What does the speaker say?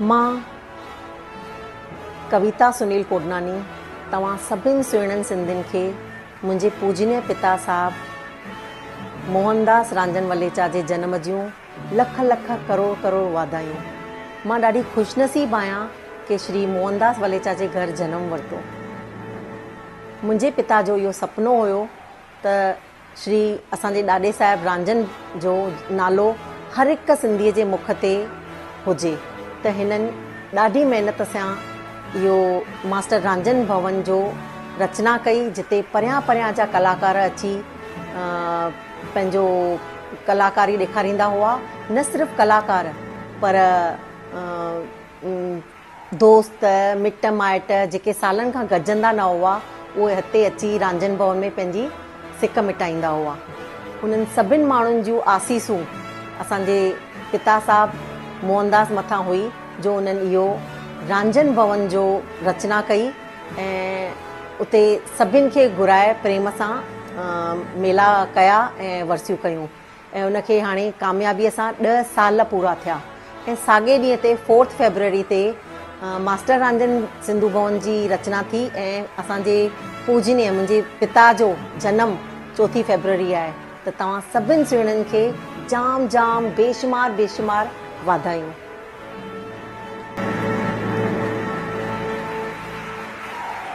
مان ڪويتا سنيل ڪوڏناني توهان سڀني سهڻن سنڌين کي منهنجي پوجنيه پتا صاحب موهن داس رانجن وليچا جي جنم جون لک لک ڪروڙ ڪروڙ واڌايون مان ڏاڍي خوش نصيب آهيان ڪي شري موهن داس وليچا جي گهر جنم ورتو منهنجي پتا جو اهو سپنو هيو ته شري اسان جي ڏاڏي صاحب رانجھن جو نالو هر هڪ سنڌي جي مک تي هجي ته هنن ڏاڍي محنت سان اهو ماسٽر رانجھن ڀون جو رچنا ڪئي جتي پريان پريان جا ڪلاڪار اچي پنهنجو ڪلاڪاري ڏيکاريندا هئا نه صرف ڪلاڪار پر دوست، مٽ مائٽ جيڪي سالن کان گڏجندا نه هئا، اهي هتي اچي رانجهن ڀون ۾ پنهنجي سڪ مٽائيندا هئا. انهن سڀن ماڻهن جون آسيسون اسان جي پتا صاحب موهنداس مٿان هئي جو انهن اهو رانجهن ڀون جو رچنا ڪئي ۽ اتي سڀن کي گهرائي پريم سان ميلا ڪيا ۽ ورسيون ڪيون. ۽ ان کي هاڻي ڪاميابيء سان ڏهه سال پورا ٿيا ۽ ساڳئي ڏينهن تي فورٿ فيبروري تي ماسٽر رانجن سنڌو ڀون جي رچنا ٿي ۽ اسان جي پوجنيه منهنجي پتا جو جنم چوٿين فيبروري آهي ته توهان سڀن سهڻين کي جام جام بيشمار بيشمار واڌايون.